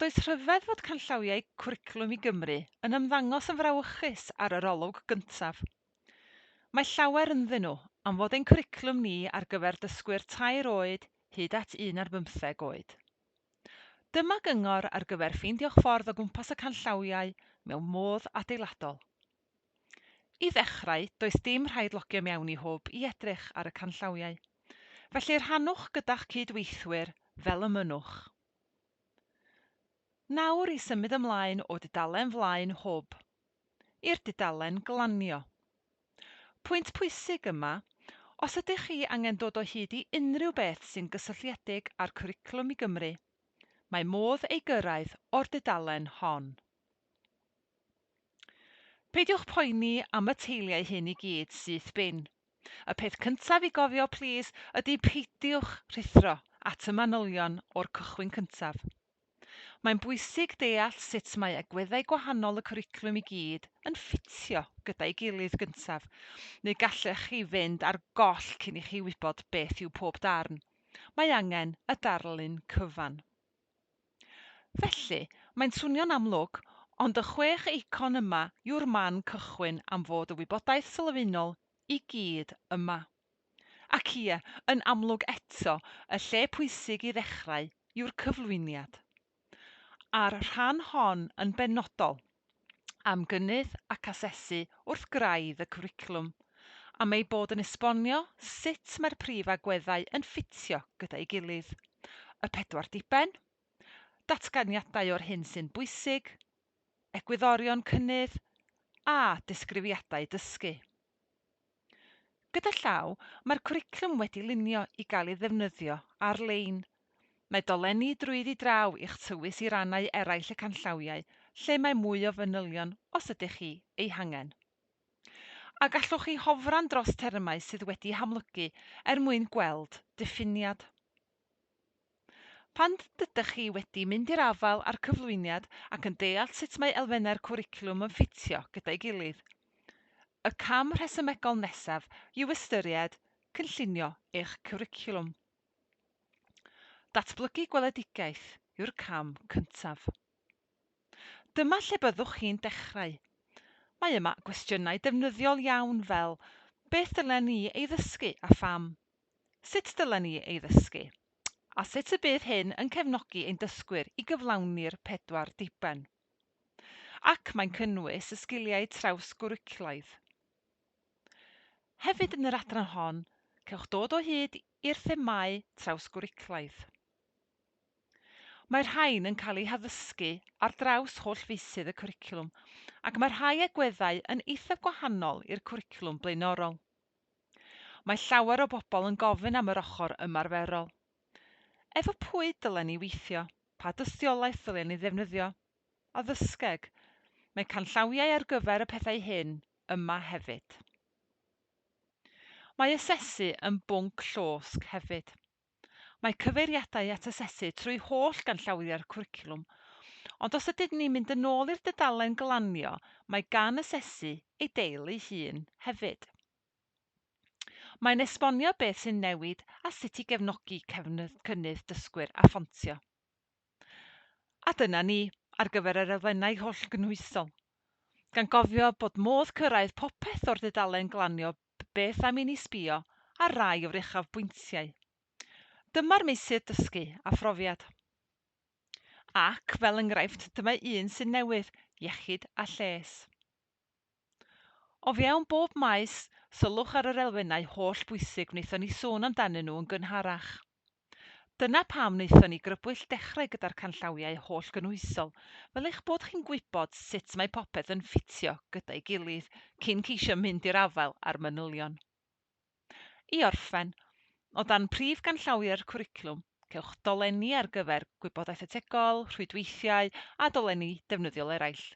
Does rhyfedd fod canllawiau Cwricwlwm i Gymru yn ymddangos yn frawychus ar yr olwg gyntaf. Mae llawer ynddyn nhw am fod ein cwricwlwm ni ar gyfer dysgwyr tair oed hyd at un ar bymtheg oed. Dyma gyngor ar gyfer ffeindio'ch ffordd o gwmpas y canllawiau mewn modd adeiladol. I ddechrau, does dim rhaid logio mewn i Hwb i edrych ar y canllawiau. Felly rhannwch gyda'ch cyd-weithwyr fel y mynnwch. Nawr i symud ymlaen o dudalen flaen Hwb i'r dudalen glanio. Pwynt pwysig yma, os ydych chi angen dod o hyd i unrhyw beth sy'n gysylltiedig â'r Cwricwlwm i Gymru, mae modd ei gyrraedd o'r dudalen hon. Peidiwch poeni am y teiliau hyn i gyd syth bin. Y peth cyntaf i gofio plîs ydi peidiwch rhuthro at y manylion o'r cychwyn cyntaf. Mae'n bwysig deall sut mae agweddau gwahanol y cwricwlwm i gyd yn ffitio gyda'i gilydd gyntaf, neu gallech chi fynd ar goll cyn i chi wybod beth yw pob darn. Mae angen y darlun cyfan. Felly, mae'n swnio'n amlwg, ond y chwech eicon yma yw'r man cychwyn am fod y wybodaeth sylfaenol i gyd yma. Ac ie, yn amlwg eto, y lle pwysig i ddechrau yw'r cyflwyniad. A'r rhan hon yn benodol. am gynnydd ac asesu wrth graidd y cwricwlwm, am ei bod yn esbonio sut mae'r prif agweddau yn ffitio gyda'i gilydd, y pedwar diben, datganiadau o'r hyn sy'n bwysig, egwyddorion cynnydd, a disgrifiadau dysgu. Gyda llaw, mae'r cwricwlwm wedi lunio i gael ei ddefnyddio ar-lein. Mae dolenni drwyddi draw i'ch tywys i rannau eraill y canllawiau lle mae mwy o fanylion os ydych chi eu hangen. A gallwch chi hofran dros termau sydd wedi hamlygu er mwyn gweld diffiniad. Pan ydych chi wedi mynd i'r afael â'r cyflwyniad ac yn deall sut mae elfennau'r cwricwlwm yn ffitio gyda'i gilydd, y cam rhesymegol nesaf yw ystyried cynllunio eich cwricwlwm. Datblygu gweledigaeth yw'r cam cyntaf. Dyma lle byddwch chi'n dechrau. Mae yma gwestiynau defnyddiol iawn fel, Beth dylen ni ei ddysgu a pham? Sut dylen ni ei ddysgu? A sut y bydd hyn yn cefnogi ein dysgwyr i gyflawni'r pedwar diben? Ac mae'n cynnwys y sgiliau traws-gwricwlaidd. Hefyd yn yr adran hon, cewch dod o hyd i'r themâu traws-gwricwlaidd. Mae'r rhain yn cael eu haddysgu ar draws holl feysydd y cwricwlwm ac mae rhai agweddau yn eithaf gwahanol i'r cwricwlwm blaenorol. Mae llawer o bobl yn gofyn am yr ochr ymarferol. Efo pwy dylen ni weithio? Pa dystiolaeth ddylen ni ddefnyddio? Addysgeg. Mae canllawiau ar gyfer y pethau hyn yma hefyd. Mae asesu yn bwnc llosg hefyd. Mae cyfeiriadau at asesu trwy holl ganllawiau'r cwricwlwm, ond os ydyn ni'n mynd yn ôl i'r dudalen glanio, mae gan asesu ei deil ei hun hefyd. Mae'n esbonio beth sy'n newid a sut i gefnogi cynnydd dysgwyr a ffontio. A dyna ni ar gyfer yr elfennau hollgynhwysol. Gan gofio bod modd cyrraedd popeth o'r dudalen glanio beth am i ni sbïo ar rai o'r uchafbwyntiau. Dyma'r meysydd dysgu a phrofiad. Ac, fel enghraifft, dyma un sy'n newydd, iechyd a lles. O fewn bob maes, sylwch ar yr elfennau hollbwysig wnaethon ni sôn amdanyn nhw yn gynharach. Dyna pam wnaethon ni grybwyll dechrau gyda'r canllawiau hollgynhwysol, fel eich bod chi'n gwybod sut mae popeth yn ffitio gyda'i gilydd cyn ceisio mynd i'r afael â'r manylion. I orffen, o dan prif ganllawiau'r cwricwlwm, cewch dolenni ar gyfer gwybodaeth ategol, rhwydweithiau a dolenni defnyddiol eraill.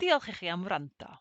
Diolch i chi am wrando.